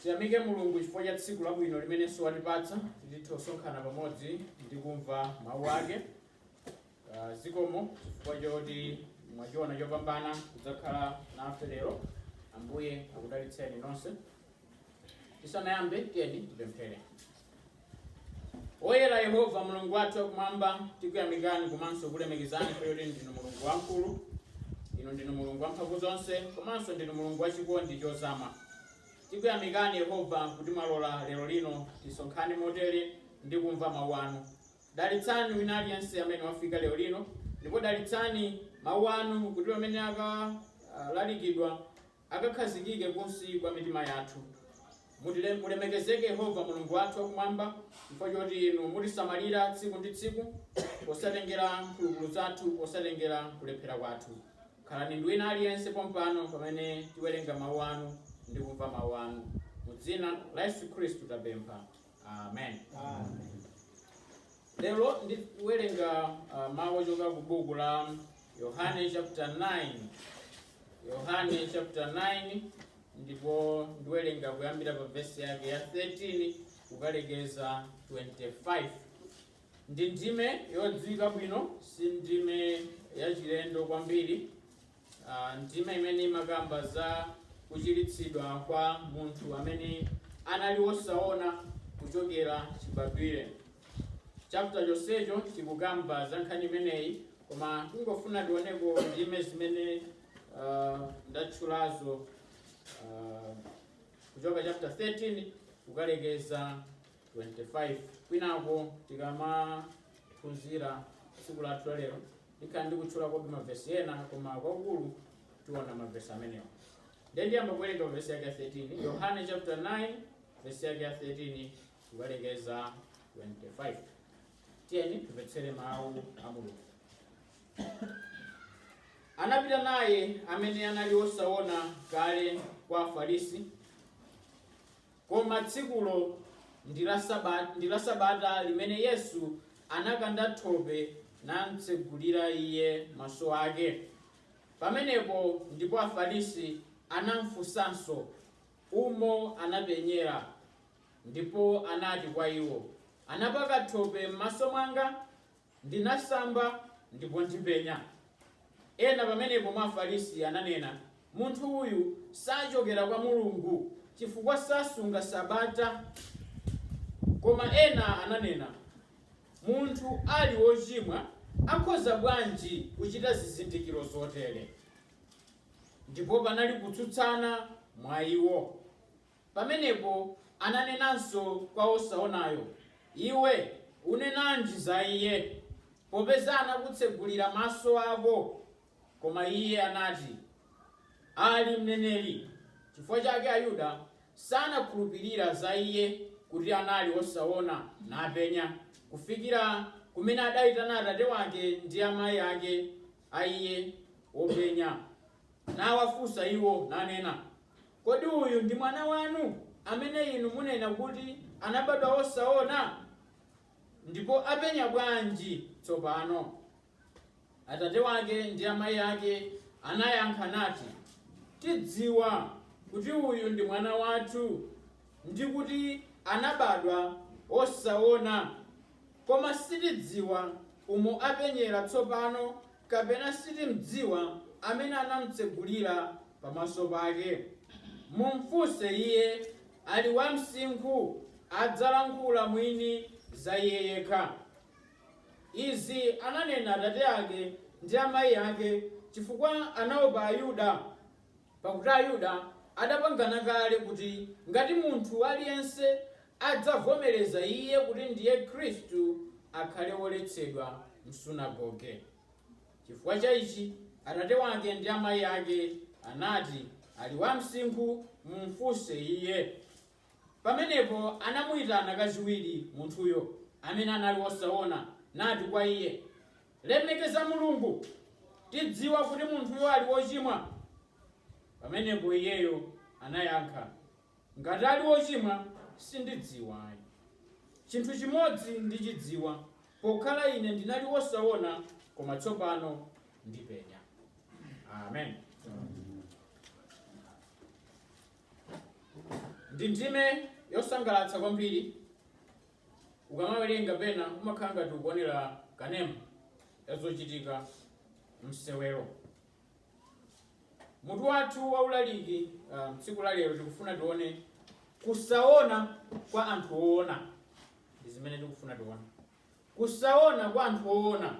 Tiyamike Mulungu chifukwa cha tsiku labwino limenenso watipatsa kuti tithe kusonkhana pamodzi ndi kumva mawu ake. Ah, Zikomo chifukwa choti mwachiona chopambana kudzakhala nafe lero. Ambuye akudalitseni nonse. Tisanayambe, tiyeni tipemphere. Woyera Yehova, Mulungu wathu wakumwamba, tikuyamikani komanso kulemekezani chifukwa choti ndinu Mulungu wamkulu. Inu ndinu Mulungu wamphamvu zonse komanso ndinu Mulungu wachikondi chozama. Tikuyamikani Yehova kuti mwalola lero lino tisonkhane motere ndi kumva mawu anu. Dalitsani wina aliyense amene wafika lero lino ndipo dalitsani mawu anu kuti pamene akalalikidwa akakhazikike kunsi kwa mitima yathu. Mulemekezeke Yehova Mulungu wathu wa kumwamba, chifukwa choti Inu mutisamalira tsiku ndi tsiku, posatengera mphulupulu zathu, posatengera kulephera kwathu. Khalani ndi wina aliyense pompano pamene tiwerenga Mawu Anu ndi kumva Mawu Anu. Mu dzina la Yesu Khristu tapempha. amen lero ndiwerenga uh, mawu ochoka ku buku la yohane chapter 9 yohane chapter 9 ndipo ndiwerenga kuyambira pa vesi yake ya 13 kukalekeza 25 ndi ndime yodziwika bwino si ndime yachilendo kwambiri a Ndime imene imakamba za kuchiritsidwa kwa munthu amene anali wosaona kuchokera chibadwire. Chapter chonsecho chikukamba za nkhani imeneyi koma tingofuna tioneko ndime zimene a ndatchulazo a kuchoka chapter 13 kukalekeza 25 kwinako tikamaphunzira tsiku lathu lalero Ndikhala ndikutchulakobe mavesi ena, koma kwakulu tiona mavesi amenewa. Ndiye ndiyamba kuwerenga pa vesi yake ya 13, Yohane chapter 9 vesi yake ya 13 kukalekeza 25. Tiyeni timvetsere mawu a Mulungu. Anapita naye amene anali osaona kale kwa Afarisi Koma tsikulo ndi la Sabata limene Yesu anakanda thope namtsegulira iye maso ake. Pamenepo ndipo Afarisi anamfunsanso umo anapenyera. Ndipo anati kwa iwo, Anapaka thope m'maso mwanga, Ndinasamba ndipo ndipenya. Ena pamenepo mwa Afarisi ananena, Munthu uyu sachokera kwa Mulungu, chifukwa sasunga Sabata. Koma ena ananena, Munthu ali wochimwa akhoza bwanji kuchita zizindikiro zotere? Ndipo panali kutsutsana mwa iwo. Pamenepo ananenanso kwa wosaonayo, Iwe unenanji za Iye, popeza anakutsegulira maso ako? Koma iye anati, Ali mneneri. Chifukwa chake Ayuda sanakhulupirira za iye kuti anali wosaona napenya, kufikira kumene adaitana atate wake ndi amai ake a iye wopenya, nawafunsa iwo, nanena, Kodi uyu ndi mwana wanu, amene inu munena kuti anabadwa wosaona? Ndipo apenya bwanji tsopano? Atate wake ndi amayi ake anayankha nati, Tidziwa kuti uyu ndi mwana wathu, ndi kuti anabadwa wosaona, koma sitidziwa umo apenyera tsopano kapena sitimdziwa amene anamtsegulira pamaso pake. Mumfunse iye, ali wa msinkhu, adzalankhula mwini za iye yekha. Izi ananena atate ake ndi amai ake, chifukwa anaopa Ayuda. Pakuti Ayuda adapangana kale kuti ngati munthu aliyense adzavomereza Iye kuti ndiye Khristu, akhale woletsedwa m'sunagoge. Chifukwa cha ichi atate wake ndi amayi ake anati, Ali wamsinkhu, mumfunse iye. Pamenepo anamuitana kachiwiri munthuyo, amene anali wosaona, nati kwa iye, Lemekeza Mulungu, tidziwa kuti munthuyo ali wochimwa. Pamenepo iyeyo anayankha, Ngati ali wochimwa, sindidziwa ayi. Chinthu chimodzi ndichidziwa, pokhala ine ndinali wosaona, koma tsopano ndipenya. Amen. ndi ndime yosangalatsa kwambiri ukamawerenga pena umakhala ngati ukuonera kanema ya zochitika msewero mutu wathu wa ulaliki ah, tsiku la lero tikufuna tione kusaona kwa anthu oona ndi zimene tikufuna tione kusaona kwa anthu oona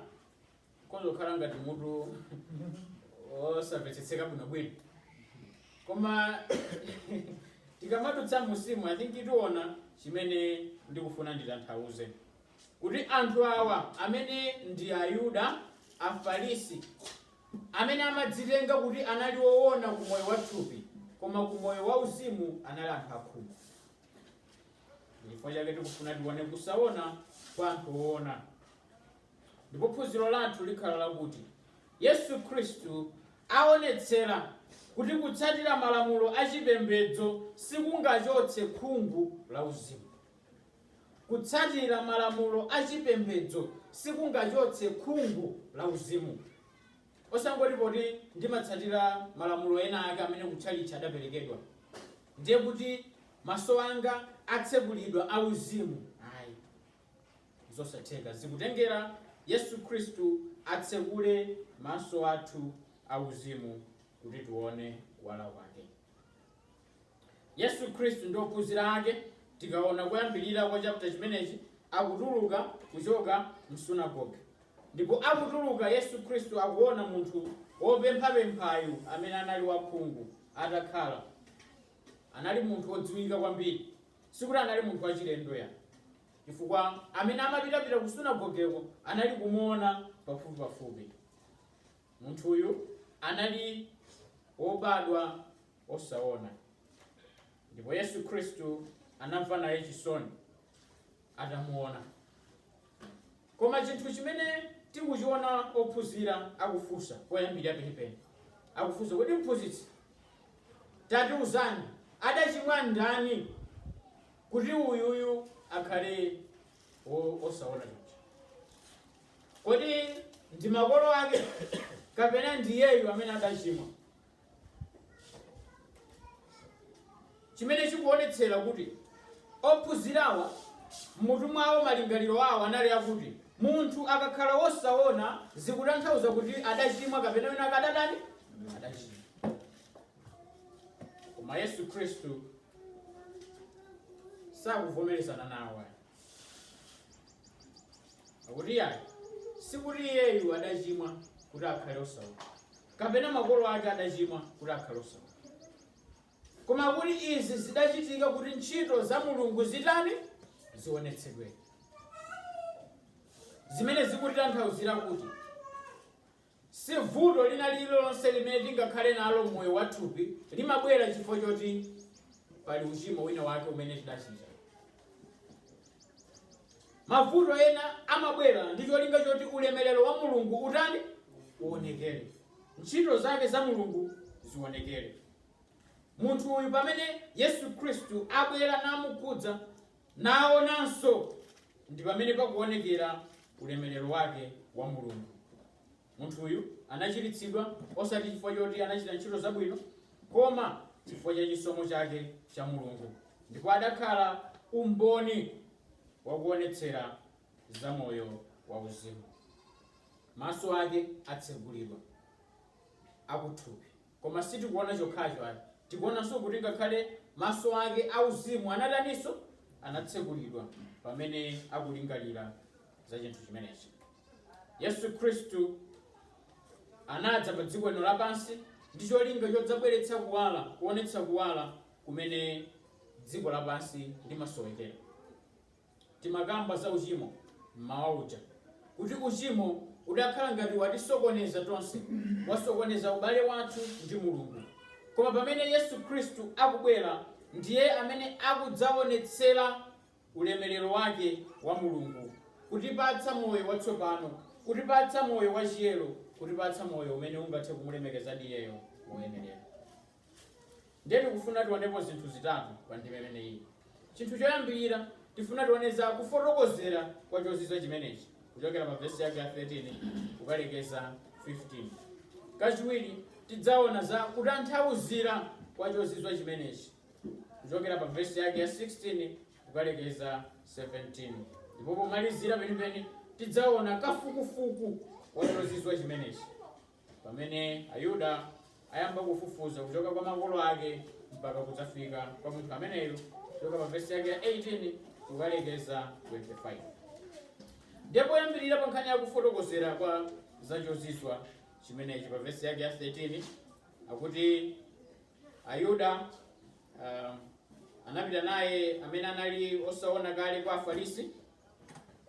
ukhoza kukhala ngati mutu osamvetsetseka bwinobwino koma tikamadutsa umu i think tiona chimene ndikufuna nditanthauze kuti anthu awa amene ndi ayuda afarisi amene amadzitenga kuti anali woona ku moyo wa thupi koma ku moyo wa uzimu anali anthu akhungu chifukwa chake tikufuna tione kusaona kwa anthu oona ndipo phunziro lathu likhala lakuti yesu khristu aonetsera kuti kutsatira malamulo achipembedzo sikungachotse khungu la uzimu kutsatira malamulo achipembedzo sikungachotse khungu la uzimu osangoti poti ndimatsatira malamulo ena ake amene kutchalitchi adaperekedwa ndiye kuti maso anga atsekulidwa auzimu ayi zosatheka. Zikutengera Yesu Khristu atsekule maso athu auzimu kuti tione kuwala kwake. Yesu Khristu ndi ophunzira ake tikaona kuyambirira kwa chapter chimenechi akutuluka kuchoka msunagoge ndipo akutuluka Yesu Khristu akuona munthu wopemphapemphayu amene anali wakhungu atakhala anali munthu wodziwika kwambiri Sikuti anali munthu wachilendo ya, chifukwa amene amapitapita ku sunagogeko anali kumuona pafupipafupi. Munthuyu anali wobadwa osaona, ndipo Yesu Khristu anamva naye chisoni atamuona. Koma chinthu chimene tikuchiona ophunzira akufunsa poyambirira penipeni. Akufunsa kuti, Mphunzitsi, tatiuzani, adachimwa ndani kuti uyuyu akhale wosaona chonchi? Kodi ndi makolo ake kapena ndi iyeyu amene adachimwa? chimene chikuonetsera kuti ophunzirawa m'mutu mwawo malingaliro awo anali akuti munthu akakhala wosaona zikutanthauza kuti adachimwa kapena wina wake adatani adachimwa koma yesu khristu sakuvomerezana nawo ayi akuti iyayi sikuti iyeyu adachimwa kuti akhale osaona kapena makolo ake adachimwa kuti akhale osaona, koma kuti izi zidachitika kuti ntchito za Mulungu zitani? Zionetsedwe. Zimene zikutitanthauzira kuti si vuto lina lililonse limene tingakhale nalo mmoyo wathupi limabwera chifukwa choti pali uchimo wina wake umene tidachita. Mavuto ena amabwera ndi cholinga choti ulemerero wa Mulungu utani? Uonekere. Ntchito zake za Mulungu zionekere. Munthu uyu pamene Yesu Khristu abwera namukhudza naonanso ndi pamene pakuonekera ulemerero wake wa Mulungu. Munthuyu anachiritsidwa, osati chifukwa choti anachita ntchito zabwino, koma chifukwa cha chisomo chake cha Mulungu, ndipo adakhala umboni wakuonetsera za moyo wa uzimu. Maso ake atsegulidwa, akuthupi. Koma sitikuona chokhacho ayi, tikuonanso kuti ngakhale maso ake auzimu anataninso? Anatsegulidwa pamene akulingalira za chinthu chimenechi. Yesu Khristu anadza pa dziko lino lapansi ndi cholinga chodzabweretsa kuwala, kuonetsa kuwala kumene dziko lapansi limasowekera. Timakamba za uchimo m'mawa uja kuti uchimo udakhala ngati watisokoneza tonse, wasokoneza ubale wathu ndi Mulungu. Koma pamene Yesu Khristu akubwera, ndiye amene akudzaonetsera ulemerero wake wa Mulungu, kutipatsa moyo watsopano, kutipatsa moyo wachiyero, kutipatsa moyo umene ungathe kumulemekezadi Iyeyo moyenerera. Ndiye tikufuna tionepo zinthu zitatu pa ndime imeneyi. Chinthu choyambirira, tifuna tione za kufotokozera kwa chozizwa chimenechi kuchokera pa vesi yake ya 13 kukalekeza 15. Kachiwiri, tidzaona za kutanthauzira kwa chozizwa chimenechi kuchokera pa vesi yake ya 16 kukalekeza 17. Ndipo pomalizira penipeni tidzaona kafukufuku wa chozizwa chimenechi Pamene Ayuda ayamba kufufuza kuchoka kwa makolo ake mpaka kudzafika kwa munthu ameneyo kuchoka pa vesi yake ya 18 kukalekeza 25 ndiye poyambirira pa nkhani yakufotokozera kwa za chozizwa chimenechi pa vesi yake ya 13 akuti ayuda um, anapita naye amene anali osaona kale kwa afarisi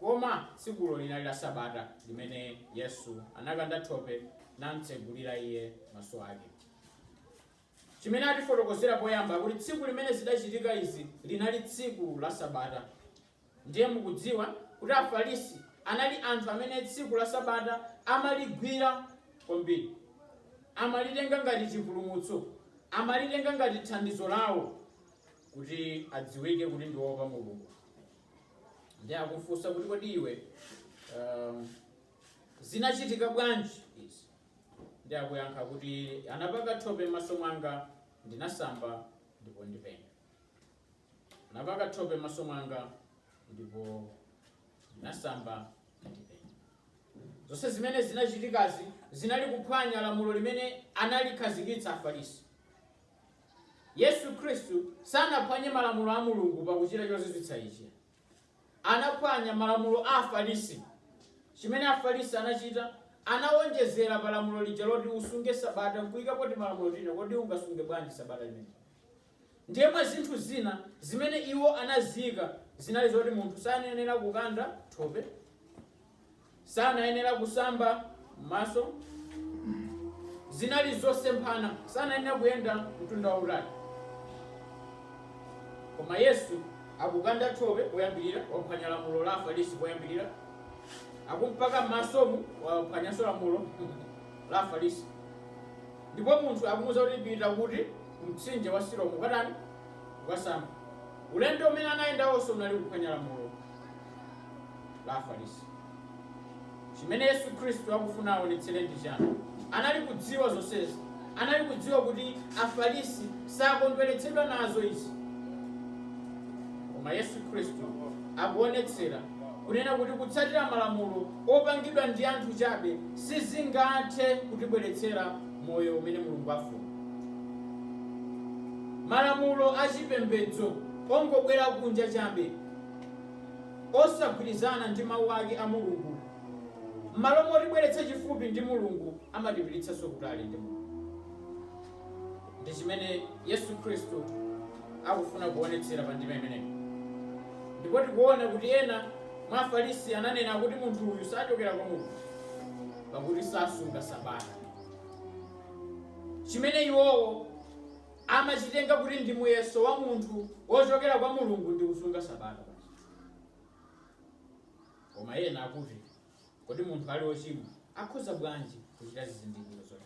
Koma tsikulo linali la Sabata limene Yesu anakanda thope namtsegulira iye maso ake. Chimene atifotokozera poyamba kuti tsiku limene zidachitika izi linali tsiku la Sabata. Ndiye mukudziwa kuti Afarisi anali anthu amene tsiku la Sabata amaligwira kwambiri, amalitenga ngati chipulumutso, amalitenga ngati thandizo lawo kuti adziwike kuti ndi woopa Mulungu. ndiye akufunsa kuti kodi iwe um, zinachitika bwanji izi ndiye akuyankha kuti anapaka thope m'maso mwanga ndinasamba ndipo ndipenya anapaka thope m'maso mwanga ndipo ndinasamba ndipenya zonse zimene zinachitikazi zinali kuphwanya lamulo limene analikhazikitsa afarisi Yesu Khristu sanaphwanye malamulo a Mulungu pakuchita chozizwitsa ichi. Anaphwanya malamulo a Afarisi. Chimene Afarisi anachita, anawonjezera pa lamulo lija loti usunge Sabata n'kuikapo timalamulo tina. Kodi ungasunge bwanji Sabata limeneli? Ndiye mwa zinthu zina zimene iwo anaziika zinali zoti munthu sanayenera kukanda thope. sanayenera kusamba m'maso zinali zosemphana sanayenera kuyenda mtunda wautali koma yesu akukanda thope poyambirira waphwanya lamulo la afarisi poyambirira akumpaka m'masomu waphwanyanso lamulo la afarisi ndipo munthu akumuuza kuti pita kuti kumtsinje wa silomu ukatani ukasambe ulendo umene anayenda wonse unali kuphwanya lamulo la Afarisi. Chimene Yesu Khristu akufuna aonetsere ndi chani? Anali kudziwa zonsezi. Anali kudziwa kuti Afarisi sakondweretsedwa nazo izi. Koma Yesu Khristu akuonetsera kunena kuti kutsatira malamulo opangidwa ndi anthu chabe sizingathe kutibweretsera moyo umene Mulungu afuna. Malamulo a chipembedzo ongobwera kunja chabe osagwirizana ndi Mau ake a Mulungu, m'malo motibweretsa chifupi ndi Mulungu, amatipititsanso kutali ndi Mulungu. Ndi chimene Yesu Khristu akufuna kuonetsera pa ndima imeneyi. Ndipo tikuona kuti ena mwa Afarisi ananena kuti munthu uyu sachokera kwa Mulungu, pakuti sasunga Sabata. Chimene iwowo amachitenga kuti ndi muyeso wa munthu wochokera kwa Mulungu ndi kusunga Sabata. Koma ena akuti, kodi munthu ali wochimwa akhoza bwanji kuchita zizindikiro zotere?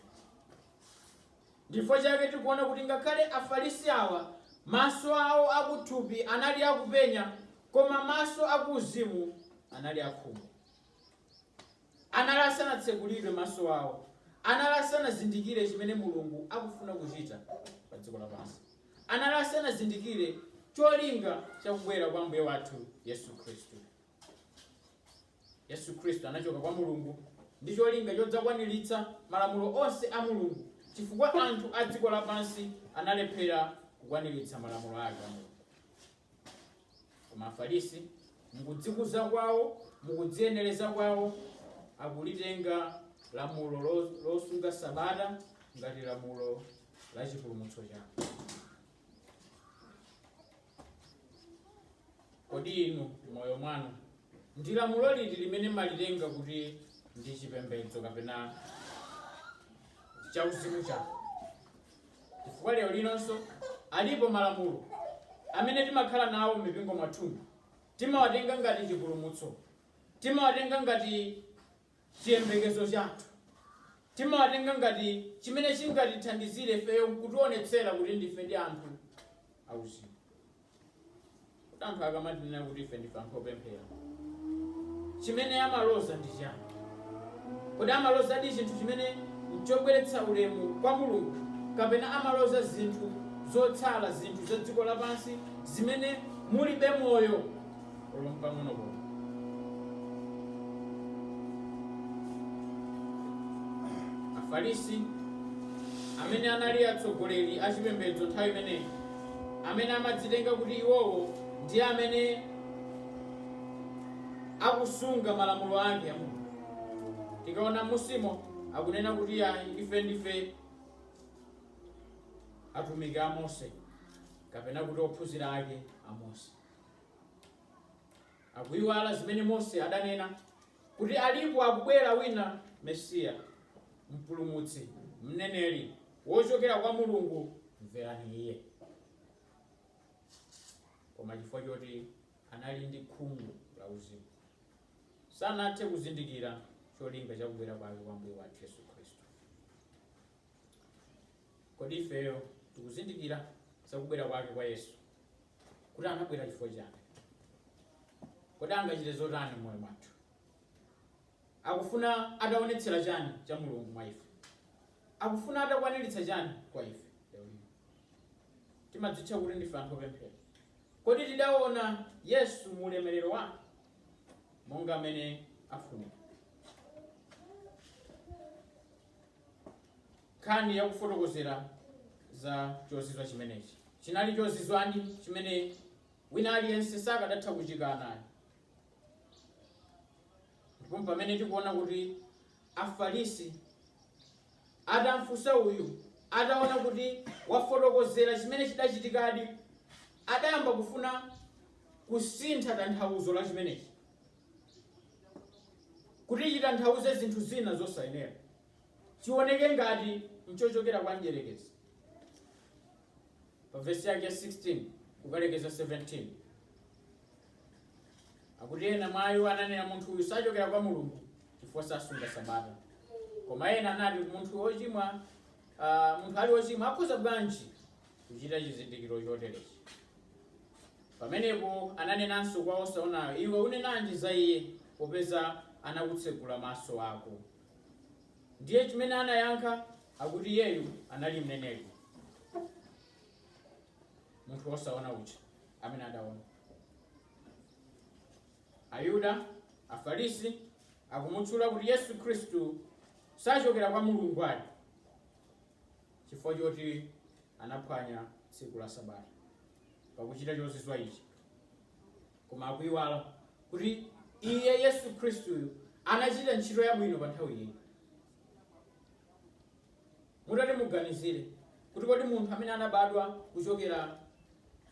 Ndichifukwa chake tikuona kuti ngakhale Afarisi awa maso awo akuthupi anali akupenya koma maso akuuzimu anali akhungu. Anali asanatsekulidwe maso awo. Anali asanazindikire chimene Mulungu akufuna kuchita pa dziko lapansi. Anali asanazindikire cholinga cha kubwera kwa Ambuye wathu Yesu Khristu. Yesu Khristu anachoka kwa Mulungu ndi cholinga chodzakwaniritsa malamulo onse a Mulungu chifukwa anthu a dziko lapansi analephera kukwaniritsa malamulo ake a Mulungu. Koma Afarisi, mukudzikuza kwawo, mukudziyenereza kwawo, akulitenga lamulo losunga sabata ngati lamulo la chipulumutso chawo. Kodi inu moyo mwanu ndi lamulo liti limene malitenga kuti ndi chipembedzo kapena chauzimu chako? Chifukwa lero linonso alipo malamulo amene timakhala nawo m'mipingo mwathumu. Timawatenga ngati chipulumutso. Timawatenga ngati chiyembekezo chathu. Timawatenga ngati chimene chingatithandizire ifeyo kutionetsera kuti ndifedi anthu auzimu. Kuti anthu akamatinena kuti ife ndife anthu opemphera, chimene amaloza ndi chani? Kodi amalozadi chinthu chimene nchobweretsa ulemu kwa Mulungu, kapena amaloza zinthu zotsala, zinthu za dziko lapansi zimene mulibe moyo? olo mpang'ono pomwe afarisi amene anali atsogoleri a chipembedzo nthawi imeneyi amene amadzitenga kuti iwowo ndi amene akusunga malamulo ake a mulungu tikaona m'musimo akunena kuti ayi ife ndife atumiki a mose kapena kuti ophunzira ake a mose Akuiwala zimene Mose adanena kuti alipo akubwera wina, Mesiya, Mpulumutsi, Mneneri wochokera kwa Mulungu, mverani Iye. Koma chifukwa choti anali ndi khungu la uzimu, sanathe kuzindikira cholinga chakubwera kwake kwa Mbuye wathu Yesu Khristu. Kodi ifeyo tikuzindikira za kubwera kwake kwa Yesu, kuti anabwera chifukwa chani? Kodi angachite zotani m'moyo mwathu? Akufuna ataonetsera chani cha Mulungu mwa ife? Akufuna atakwaniritsa chani kwa ife? Timadzitcha kuti ndife anthu opemphera. Kodi tidaona Yesu mu ulemerero wake monga amene afunira? nkhani ya kufotokozera za chozizwa chimenechi chinali chozizwadi chimene wina aliyense sakadatha kuchikana ayi ndipo pamene tikuona kuti afarisi atamfunsa uyu ataona kuti wafotokozera chimene chidachitikadi adayamba kufuna kusintha tanthauzo la chimenechi kuti chitanthauze zinthu zina zosayenera, chioneke ngati nchochokera kwa mdyerekezi. Pa vesi yake ya 16 kukalekeza 17 akuti ena mwa iwo ananena munthu uyu sachokera kwa mulungu chifukwa sasunga sabata koma ena anati munthu wochimwa ah, munthu ali wochimwa akhoza bwanji kuchita chizindikiro choterechi. Pamenepo ananenanso kwa wosaonayo, Iwe unenanji za iye, popeza anakutsegula maso ako? Ndiye chimene anayankha akuti iyeyu anali mneneri, munthu wosaona uja amene adaona. Ayuda, Afarisi akumutchula kuti Yesu Khristu sachokera kwa Mulungu ali chifukwa choti anaphwanya tsiku la Sabata pakuchita chozizwa ichi, koma akuiwala kuti iye Yesu Khristuyu anachita ntchito yabwino pa nthawi iyi. Mutati muganizire kuti kodi munthu amene anabadwa kuchokera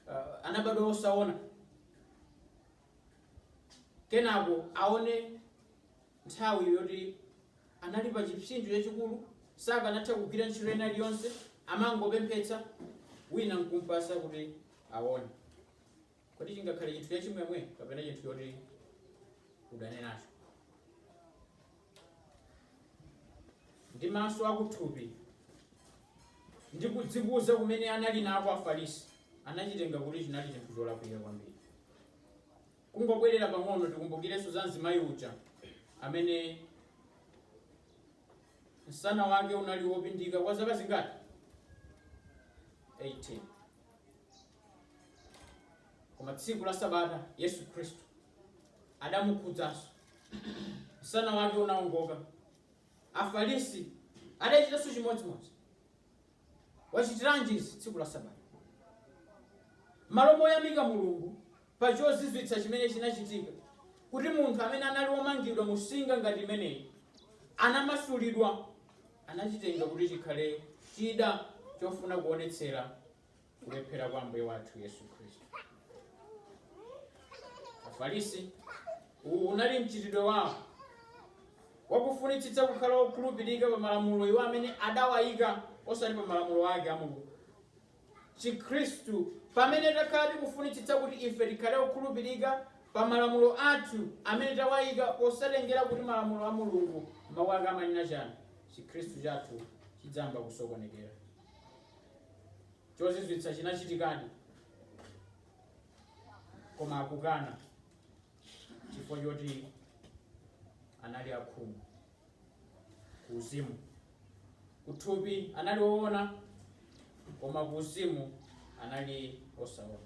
uh, anabadwa osaona Kenako aone nthawi yoti anali pa chipsinjo chachikulu, sakanatha kugwira ntchito ina iliyonse, amangopemphetsa, wina nkumpasa kuti aone. Kodi chingakhale chinthu chachimwemwe kapena chinthu choti udane nacho? ndi maso akuthupi ndi kudzikuza kumene anali nako afarisi anachitenga kuti chinali chinthu cholakwika kwambiri kungobwerera pang'ono tikumbukirenso za mzimayi uja amene msana wake unali wopindika kwa zaka zingati 18 koma tsiku la sabata yesu khristu adamukhudzanso Msana wake unawongoka. Afarisi adachitanso chimodzimodzi. Wachitiranji izi tsiku la Sabata? M'malo moyamika Mulungu pa chozizwitsa chimene chinachitika kuti munthu amene anali womangidwa mu nsinga ngati imeneyi anamasulidwa, anachitenga kuti chikhale chida chofuna kuonetsera kulephera kwa Ambuye wathu Yesu Khristu. Afarisi, uwu unali mchitidwe wawo wakufunitsitsa kukhala wokhulupirika pa malamulo iwo amene adawayika osati pa malamulo ake a Mulungu. Chikhristu, pamene takhala tikufunitsitsa kuti ife tikhale okhulupirika pa malamulo athu amene tawayika posatengera kuti malamulo a Mulungu mawu ake amanena chani, Chikhristu chathu chidzayamba kusokonekera. chozizwitsa chinachitikadi koma akukana chifukwa choti anali akhungu kuuzimu kuthupi anali woona koma kuuzimu anali osaona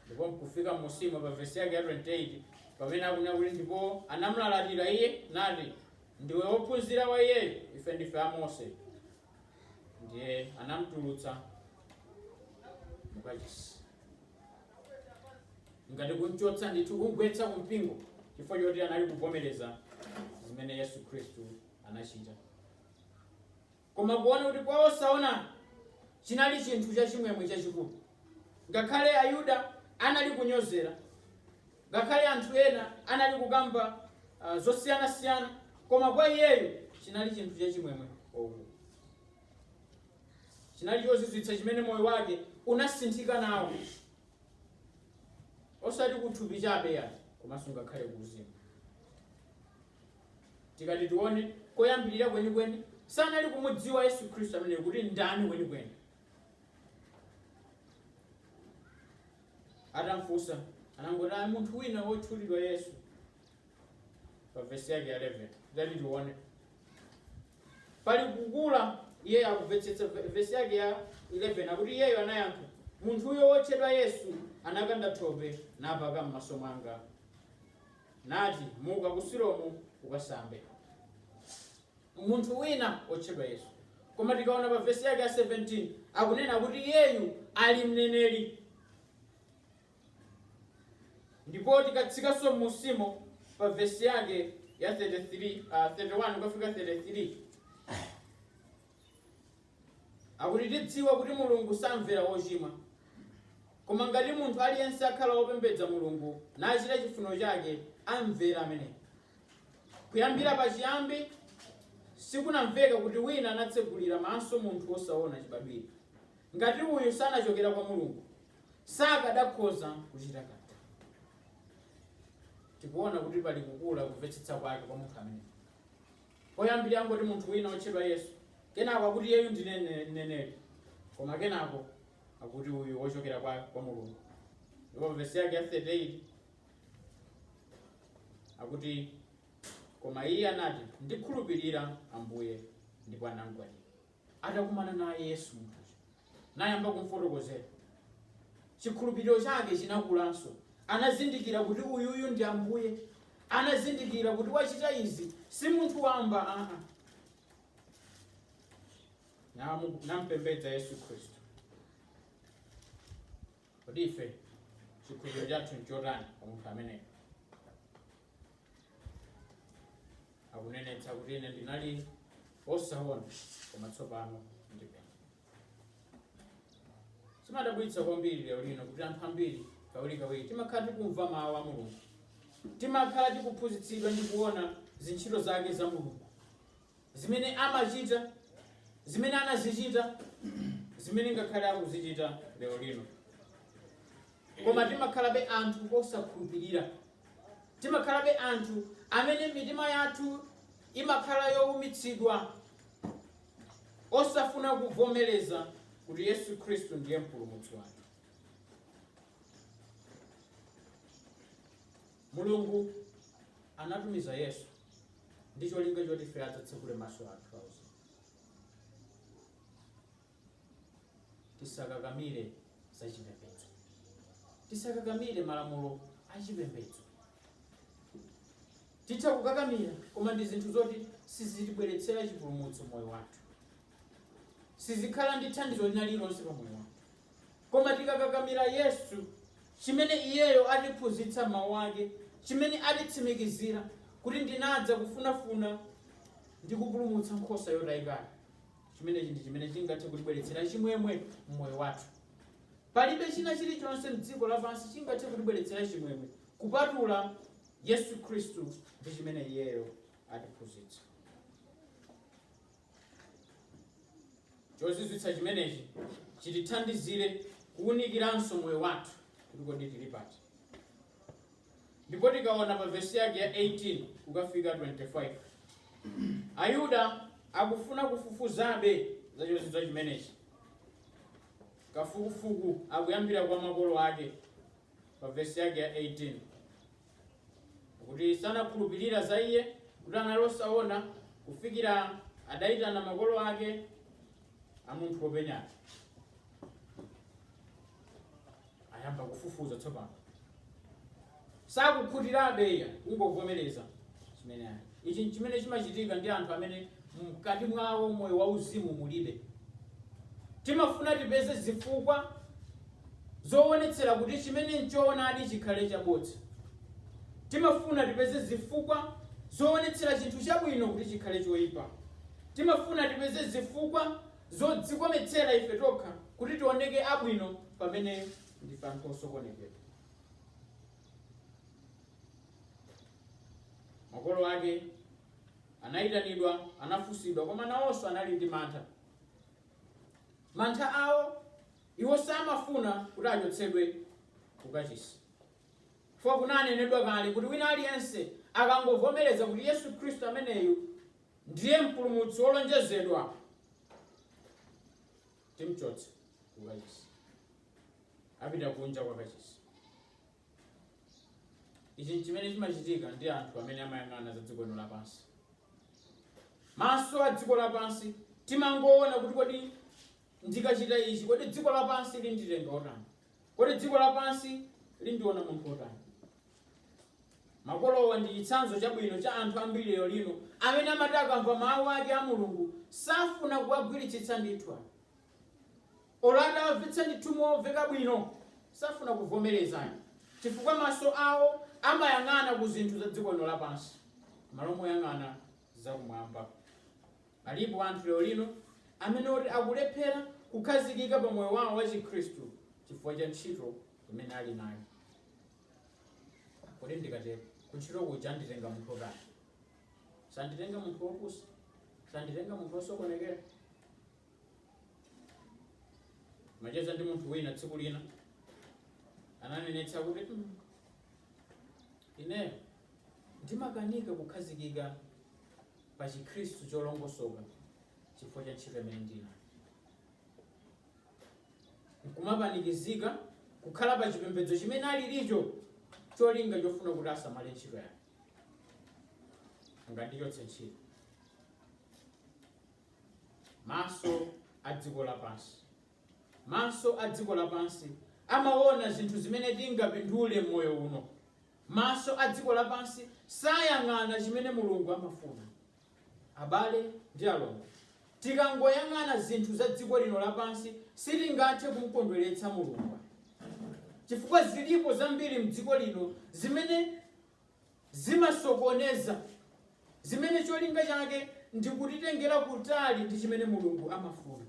ndipo nkufika musimo pa vesi yake ya 28 pamene akunena kuti ndipo anamulalatira iye nati ndiwe wophunzira wa iyeyo ife ndife a mose ndiye anamtulutsa mukachisi ngati kumchotsa ndithu kumgwetsa kumpingo chifukwa choti anali kuvomereza zimene yesu khristu anachita koma kuona kuti kwa osaona chinali chinthu chachimwemwe chachikulu ngakhale ayuda anali kunyozera Ngakhale anthu ena anali kukamba zosiyana siyana koma kwa iyeyo chinali chinthu cha chimwemwe chachikulu. Chinali chozizwitsa chimene moyo wake unasinthika nawo osati kuthupi chabe ayi komanso ngakhale kuuzimu. Tikati tione koyambilira kwenikweni sanali kumudziwa Yesu Khristu ameneyu kuti ndani kwenikweni atamfunsa anangoti ayi munthu wina wotchulidwa yesu pa vesi yake ya 11 tati tione pali kukula iye akumvetsetsa ve- vesi yake ya 11 akuti iyeyo anayankha munthuyo wotchedwa yesu anakanda thope napaka m'maso mwanga nati muka ku silomu ukasambe munthu wina wotchedwa Yesu. Koma tikaona pa vesi yake ya 17 akunena kuti iyeyu ali mneneri. Ndipo tikatsikanso m'musimo pa vesi yake ya 33, ah, 31 kukafika 33 akuti tidziwa kuti mulungu samvera wochimwa koma ngati munthu aliyense akhala wopembedza mulungu nachita chifuniro chake amvera ameneyo Kuyambira pachiyambi, sikunamveka kuti wina anatsegulira maso munthu wosaona chibadwire. Ngati uyu sanachokera kwa Mulungu, sakadakhoza kuchita kanthu. Tikuona kuti pali kukula kumvetsetsa kwake kwa munthu ameneyo. Poyambirira angoti munthu wina wotchedwa Yesu, kenako akuti iyeyu ndi nene- mneneri, koma kenako akuti uyu wochokera kwa, kwa Mulungu. Ndipo vesi yake ya 38 akuti koma iye anati ndikhulupirira ambuye ndipo anamgwadira atakumana naye yesu munthuyo nayamba kumfotokozera chikhulupiriro chake chinakulanso anazindikira kuti uyuyu ndi ambuye anazindikira kuti wachita izi si munthu wamba aa Namu- nampembedza yesu khristu kodi ife chikhulupiriro chathu nchotani pa munthu ameneyo akunenetsa kuti ine ndinali osaona koma tsopano ndipenya zimadabwitsa kwambiri lero lino kuti anthu ambiri kawirikawiri timakhala tikumva mawu a mulungu timakhala tikuphunzitsidwa ndi kuona zintchito zake za mulungu zimene amachita, zimene anazichita, zimene ngakhale akuzichita lero lino. Koma timakhalabe anthu osakhulupirira, timakhalabe anthu amene mitima yathu imakhala yowumitsidwa, osafuna kuvomereza kuti Yesu Khristu ndiye mpulumutsi wathu. Mulungu anatumiza Yesu ndi cholinga choti ife adzatsekule maso athu auzimu. Tisakakamire za chipembedzo, tisakakamire malamulo a chipembedzo. Titha kukakamira, koma ndi zinthu zoti sizitibweretsera chipulumutso moyo wathu, sizikhala ndi thandizo lina lililonse pa moyo wathu. Koma tikakakamira Yesu, chimene Iyeyo atiphunzitsa m'Mawu ake, chimene atitsimikizira, kuti ndinadza kufunafuna ndi kupulumutsa nkhosa yotayikana, chimenechi ndi chimene chingathe kutibweretsera chimwemwe m'moyo wathu. Palibe china chilichonse m'dziko lapansi chingathe kutibweretsera chimwemwe kupatula Yesu Khristu ndi chimene Iyeyo atiphunzitsa. chozizwitsa chimenechi chitithandizire kuwunikiranso moyo wathu kuti kodi tili pati ndipo tikaona pa vesi yake ya 18 kukafika 25 ayuda akufuna kufufuzabe za chozizwitsa chimenechi kafukufuku akuyambira kwa makolo ake pa vesi yake ya 18 Kuti sanakhulupirira za iye, kuti anali osaona, kufikira adayitana makolo ake a munthu wopenyayo. Ayamba kufufuza tsopano. Sakukhutirabe iya, kungovomereza chimene ali. Ichi nchimene chimachitika ndi anthu amene mkati mwawo moyo wa uzimu mulibe. Timafuna tipeze zifukwa zowonetsera kuti chimene nchoonadi chikhale chabodza. Timafuna tipeze zifukwa zowonetsera chinthu chabwino kuti chikhale choipa. Timafuna tipeze zifukwa zodzikometsera ife tokha kuti tioneke abwino pamene ndife anthu osokonekera. Makolo ake Anaitanidwa, anafunsidwa, koma nawonso anali ndi mantha. Mantha awo, iwo samafuna kuti achotsedwe ku kachisi. Chifukwa kunanenedwa kale kuti wina aliyense akangovomereza kuti Yesu Khristu ameneyu ndiye mpulumutsi wolonjezedwa, timchotse ku kachisi, apita kunja kwa kachisi. ichi nchimene chimachitika ndi anthu amene amayang'ana za dziko lino lapansi maso a dziko lapansi timangoona kuti kodi ndikachita ichi kodi dziko lapansi linditenga otani kodi dziko lapansi lindiona munthu otani makolowa ndi chitsanzo chabwino cha anthu ambiri lero lino amene amati akamva mawu ake a mulungu safuna kuwagwiritsa ntchito ayi. Olo atawamvetsa ndithu momveka bwino safuna kuvomereza ayi chifukwa maso awo amayang'ana ku zinthu za dziko lino lapansi m'malo moyang'ana za kumwamba. Alipo anthu lero lino amene oti akulephera kukhazikika pa moyo wawo wa chikhristu chifukwa cha ntchito imene ali nayo. Kodi ndikatero ku ntchito kuja anditenga munthu otani? Sanditenga munthu wopusa, sanditenga munthu wosokonekera. macheza ndi munthu wina tsiku lina ananenetsa kuti "Mm, ineyo ndimakanika kukhazikika pa chikhristu cholongosoka chifukwa cha ntchito imene ndinayo nkumapanikizika kukhala pa chipembedzo chimene alilicho cholinga chofuna kuti asamale ntchito yake angandichotse ntchito maso a dziko lapansi maso a dziko lapansi amaona zinthu zimene tingapindule m'moyo uno maso a dziko lapansi sayang'ana chimene mulungu amafuna abale ndi alongo tikangoyang'ana zinthu za dziko lino lapansi sitingathe kumkondweretsa mulungu chifukwa zilipo zambiri mdziko lino zimene zimasokoneza, zimene cholinga chake ndi kutitengera kutali ndi chimene Mulungu amafuna.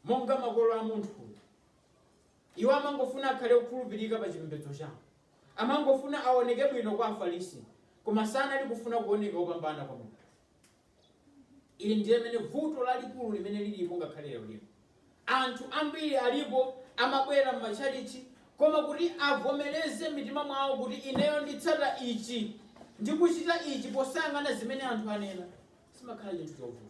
Monga makolo a munthuyu, iwo amangofuna akhale okhulupirika pa chipembedzo chawo. Amangofuna aoneke bwino kwa Afarisi, koma sanali kufuna kuoneka opambana kwa Mulungu. Ili ndiye limene vuto lalikulu limene lilipo ngakhale lero lino. Anthu ambiri alipo amabwera m'matchalitchi koma kuti avomereze m'mitima mwawo kuti ineyo nditsata ichi ndi kuchita ichi posayang'ana zimene anthu anena, chimakhala chinthu chovuta.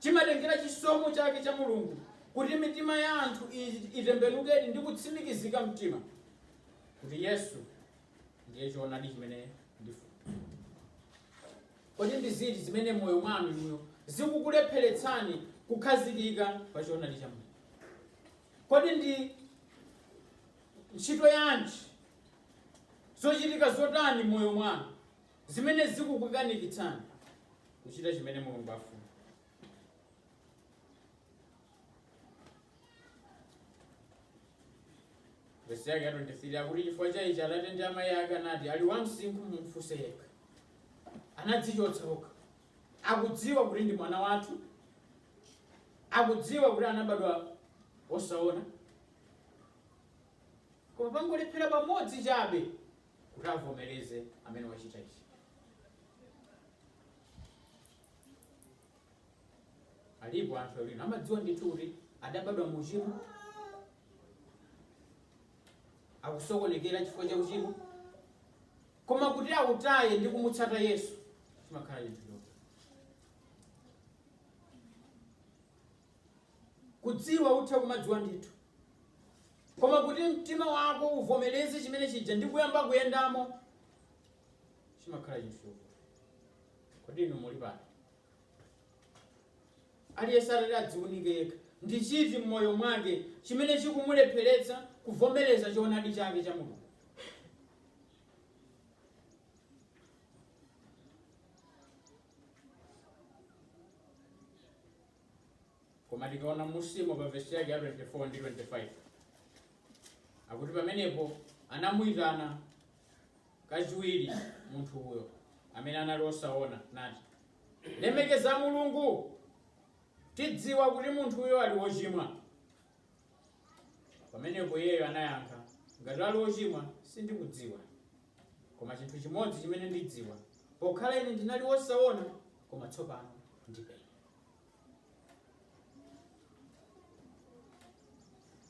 Chimatengera chisomo chake cha Mulungu kuti mitima ya anthu i- itembenukedi ndi kutsimikizika mtima kuti Yesu ndiye choonadi chimene ndifuna. Kodi ndi ziti zimene m'moyo mwanu inuyo zikukulepheretsani kukhazikika pa choonadi cha Mulungu? Kodi ndi ntchito yanji, zochitika zotani m'moyo mwanu zimene zikukukanikitsani kuchita chimene Mulungu afuna? vesi yake ya 23 akuti chifukwa cha ichi atate ndi amayi ake anati ali wamsinkhu mumfunse yekha anadzichotsa okha akudziwa kuti ndi mwana wathu akudziwa kuti anabadwa osaona koma pangolephera pamodzi chabe kuti avomereze amene wachita ichi Alipo anthu lero amadziwa ndithu kuti adabadwa mu uchimo, akusokonekera chifukwa cha uchimo, koma kuti autaye ndi kumutsata Yesu chimakhala chinthu choti kudziwa utha kumadziwa ndithu koma kuti mtima wako uvomereze chimene chija ndi kuyamba kuyendamo chimakhala chinthu chovuta kodi inu muli pano aliyense atati adziunike yekha ndi chiti m'moyo mwake chimene chikumulepheretsa kuvomereza choonadi chake cha mulungu Koma tikaona m'munsimo pa vesi yake ya 24 ndi 25 akuti pamenepo anamuyitana kachiwiri munthu uyo amene anali osaona nati lemekeza mulungu tidziwa kuti munthu uyo ali wochimwa pamenepo iyeyo anayankha ngati ali wochimwa sindikudziwa koma chinthu chimodzi chimene ndidziwa pokhala ine ndinali wosaona koma tsopano ndipenya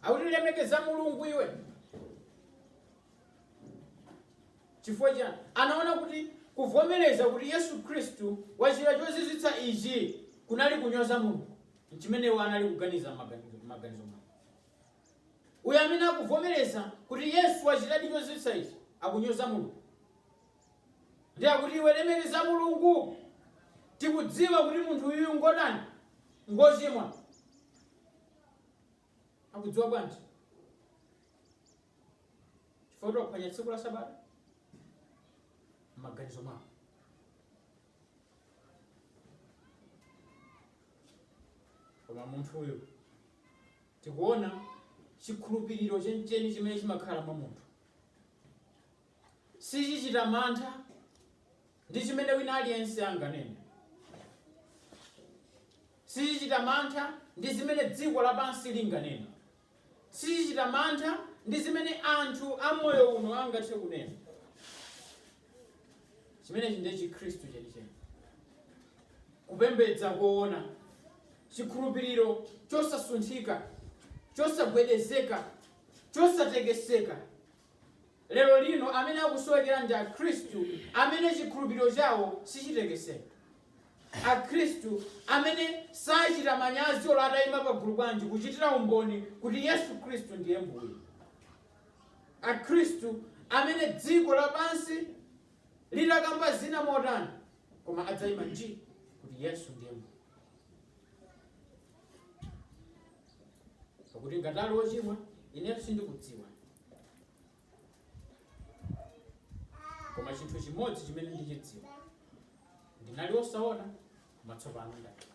akuti lemekeza mulungu iwe chifukwa chani anaona kuti kuvomereza kuti yesu khristu wachita chozizwitsa ichi kunali kunyoza mulungu chimene iwo anali kuganiza m'maganizo mwawo uyo amene akuvomereza kuti yesu wachitadi chozizwitsa ichi akunyoza mulungu ndiye akuti iwe lemekeza Mulungu tikudziwa kuti munthu uyu ngotani ngochimwa akudziwa bwanji chifukwa choti waphwanya tsiku la sabata m'maganizo mwawo koma munthu uyu tikuona chikhulupiriro chenicheni chimene chimakhala mwa munthu Sichichita mantha ndi chimene wina aliyense anganene. Sichichita mantha ndi zimene dziko lapansi linganene. Sichichita mantha ndi zimene anthu a moyo uno angathe kunena. Chimenechi ndiye Chikhristu chenicheni, kupembedza koona, chikhulupiriro chosasunthika, chosagwedezeka, chosatekeseka. lero lino amene akusowekera ndi Akhristu amene chikhulupiriro chawo sichitekeseka. Akhristu amene sachita manyazi olo atayima pagulu bwanji kuchitira umboni kuti Yesu Khristu ndiye Mbuye. Akhristu amene dziko lapansi litakamba zina motani koma adzayima nji kuti Yesu ndiye Mbuye. Pakuti ngati ali wochimwa, ine sindikudziwa. koma chinthu chimodzi chimene ndichidziwa ndinali wosaona koma tsopano ndapenya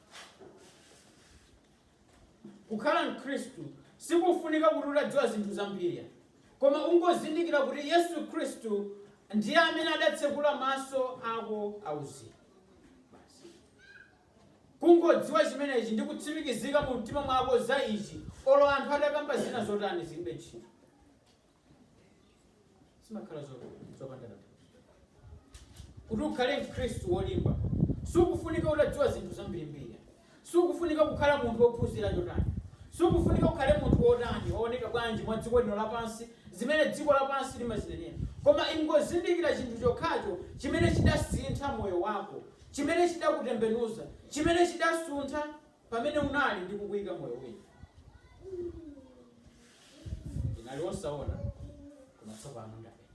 kukhala mkhristu sikufunika kuti utadziwa zinthu zambiri koma ungozindikira kuti yesu khristu ndiye amene adatsekula maso ako auzimu Kungodziwa chimenechi ndi kutsimikizika mu mtima mwako za ichi, olo anthu atakamba zina zotani zilibe ntchito. Zimakhala zopanda tanthauzo. Kuti ukhale mkhristu wolimba, sikufunika utadziwa zinthu zambirimbiri ayi. Sikufunika kukhala munthu wophunzira chotani. Sikufunika ukhale munthu wotani, wooneka bwanji mwa dziko lino lapansi, zimene dziko lapansi limazinenera. Koma ingozindikira chinthu chokhacho chimene chidasintha moyo wako, chimene chidakutembenuza, chimene chidasuntha pamene unali ndi kukuyika moyo wina. Ndinali wosaona, koma tsopano ndapenya.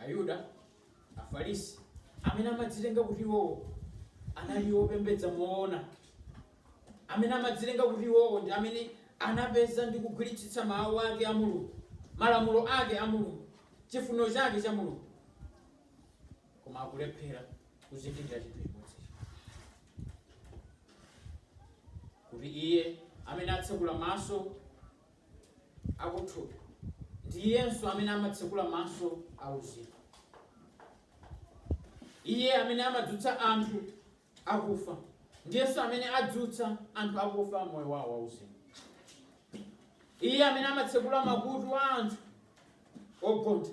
Ayuda, Afarisi amene amadzitenga kuti iwowo anali opembedza moona amene amadzitenga kuti iwowo ndi amene anapeza ndi kugwiritsitsa Mawu ake a Mulungu, malamulo ake a Mulungu, chifuniro chake cha Mulungu, koma akulephera kuzindikira chinthu chimodzicho, kuti Iye amene atsekula maso akuthupi ndi Iyenso amene amatsekula maso auzimu. Iye amene amadzutsa anthu akufa. Ndiyenso amene adzutsa anthu akufa m'moyo wawo wauzimu. Iye amene amatsekula makutu a anthu ogontha.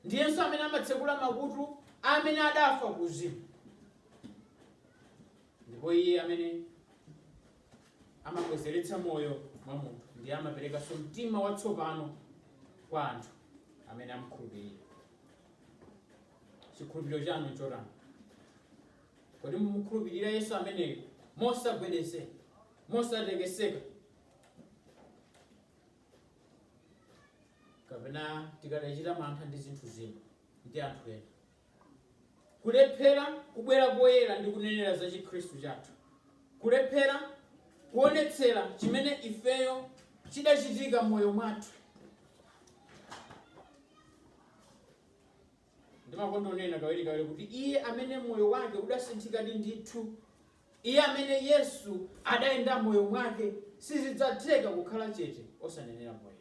Ndiyenso amene amatsekula makutu amene adafa kuuzimu. Ndipo iye amene amabwezeretsa moyo mwa munthu ndiye amaperekanso mtima watsopano kwa anthu amene amkhulupirira. Chikhulupiriro chanu nchotani? Kodi mumukhulupirira Yesu ameneyo mosagwedezeka, mosatekeseka? kapena tikadachita mantha ndi zinthu zina ndi anthu ena kulephera kubwera poyera ndi kunenera za chikhristu chathu kulephera kuonetsera chimene ifeyo chidachitika m'moyo mwathu ndimakonda kunena kawirikawiri kuti iye amene moyo wake udasinthikadi ndithu iye amene yesu adayenda moyo mwake sizidzatheka kukhala chete osanenera moyo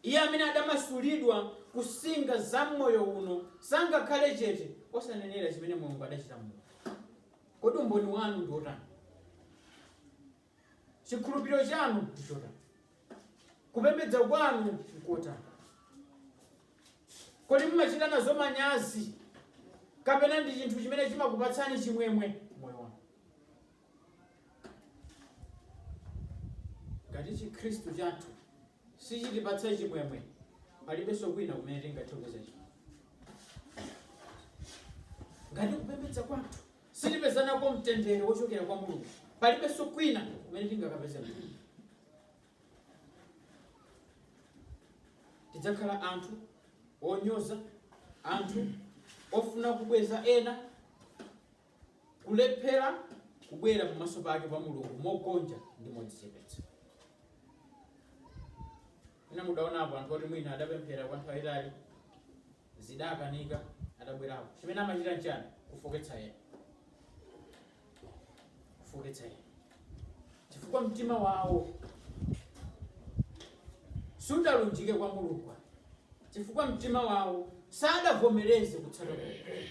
iye amene adamasulidwa kunsinga za moyo uno sangakhale chete osanenera chimene mulungu adachita m'moyo kodi umboni wanu ndi wotani Chikhulupiriro chanu nchotani? Kupembedza kwanu nkotani? Kodi mumachita nazo manyazi kapena ndi chinthu chimene chimakupatsani chimwemwe m'moyo wanu? Ngati Chikhristu chathu sichitipatsa chimwemwe, palibenso kwina kumene tingakapeze chimwemwe. Ngati kupembedza kwathu sitipeza nako mtendere wochokera kwa mulungu palibenso kwina kumene tingakapeze mtendere tidzakhala anthu onyoza anthu ofuna kubweza ena kulephera kubwera pamaso pake pa mulungu mogonja ndi modzichepetsa inu mudaonapo anthu oti mwina adapemphera kwa nthawi itali zidakanika adabwerako. Chimene amachita nchiyani? Kufooketsa ena. Kufooketsa ena. Chifukwa mtima wawo sudalunjike kwa Mulungu. Chifukwa mtima wawo sadavomereze kutsata Mulungu.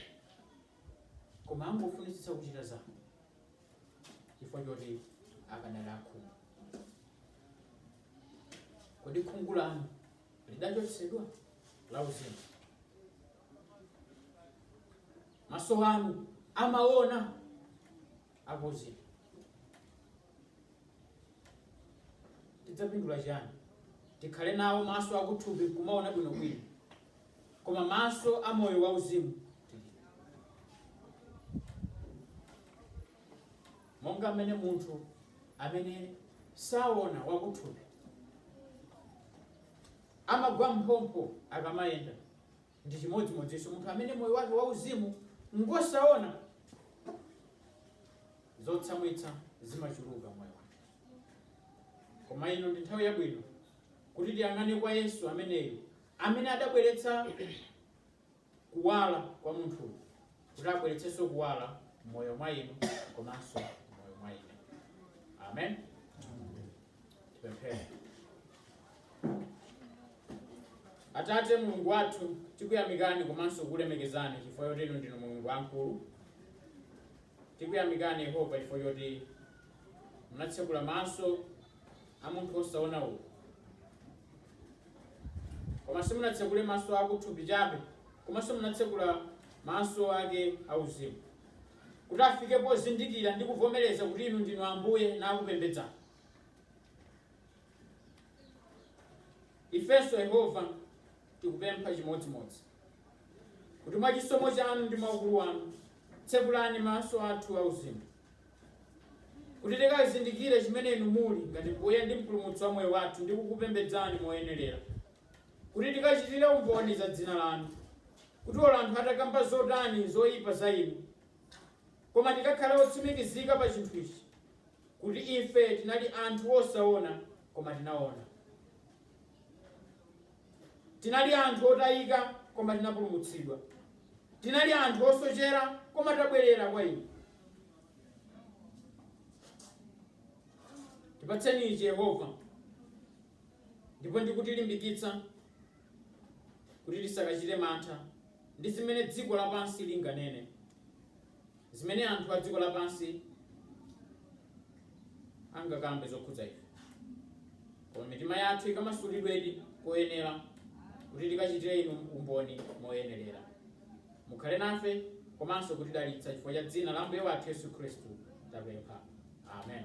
Koma angofunitsitsa kuchita zawo. Chifukwa choti akanali akhungu. Kodi khungu lanu lidachotsedwa lauzimu. Maso anu amaona akuuzimu. Tidzapindula chiyani? Tikhale nawo maso akuthupi kumaona bwinobwino, koma maso a moyo wauzimu Monga mmene munthu amene sawona wakuthupi amagwa m'phompho akamayenda, ndi chimodzimodzinso munthu amene moyo wake wauzimu ngwosawona, zotsamwitsa zimachuluka m'moyo wake. Koma ino ndi nthawi yabwino kuti tiyang'ane kwa Yesu ameneyo, amene adabweretsa kuwala kwa munthu kuti abweretsenso kuwala m'moyo mwa inu komanso m'moyo mwa ine amen tipemphere atate mulungu wathu tikuyamikani komanso kukulemekezani chifukwa choti inu ndinu mulungu wamkulu tikuyamikani yehova chifukwa choti munatsekula maso a munthu wosaona uyu Koma simunatsekule maso akuthupi chabe, komanso munatsekula maso ake auzimu, kuti afike pozindikira ndi kuvomereza kuti inu ndinu Ambuye nakupembedzani. Ifenso Yehova tikupempha chimodzimodzi kuti mwa chisomo chanu ndi mwa ukulu wanu tsekulani maso athu auzimu kuti tikazindikire chimene inu muli ngati mbuye ndi mpulumutsi wa moyo wathu ndi kukupembedzani moyenerera kuti tikachitire umboni za dzina lanu kuti olo anthu atakamba zotani zoyipa za inu koma tikakhale otsimikizika pa chinthu ichi kuti ife tinali anthu osaona koma tinaona tinali anthu otayika koma tinapulumutsidwa tinali anthu osochera koma tabwerera kwa inu tipatseni ichi yehova ndipo ndikutilimbikitsa kuti tisakachite mantha ndi zimene dziko lapansi linganene zimene anthu a dziko lapansi angakambe zokhudza ife koma mitima yathu ikamasulidwedi koyenera kuti tikachitire inu umboni moyenerera Mukhale nafe komanso kutidalitsa chifukwa cha dzina la Ambuye wathu Yesu Khristu tapempha. Amen.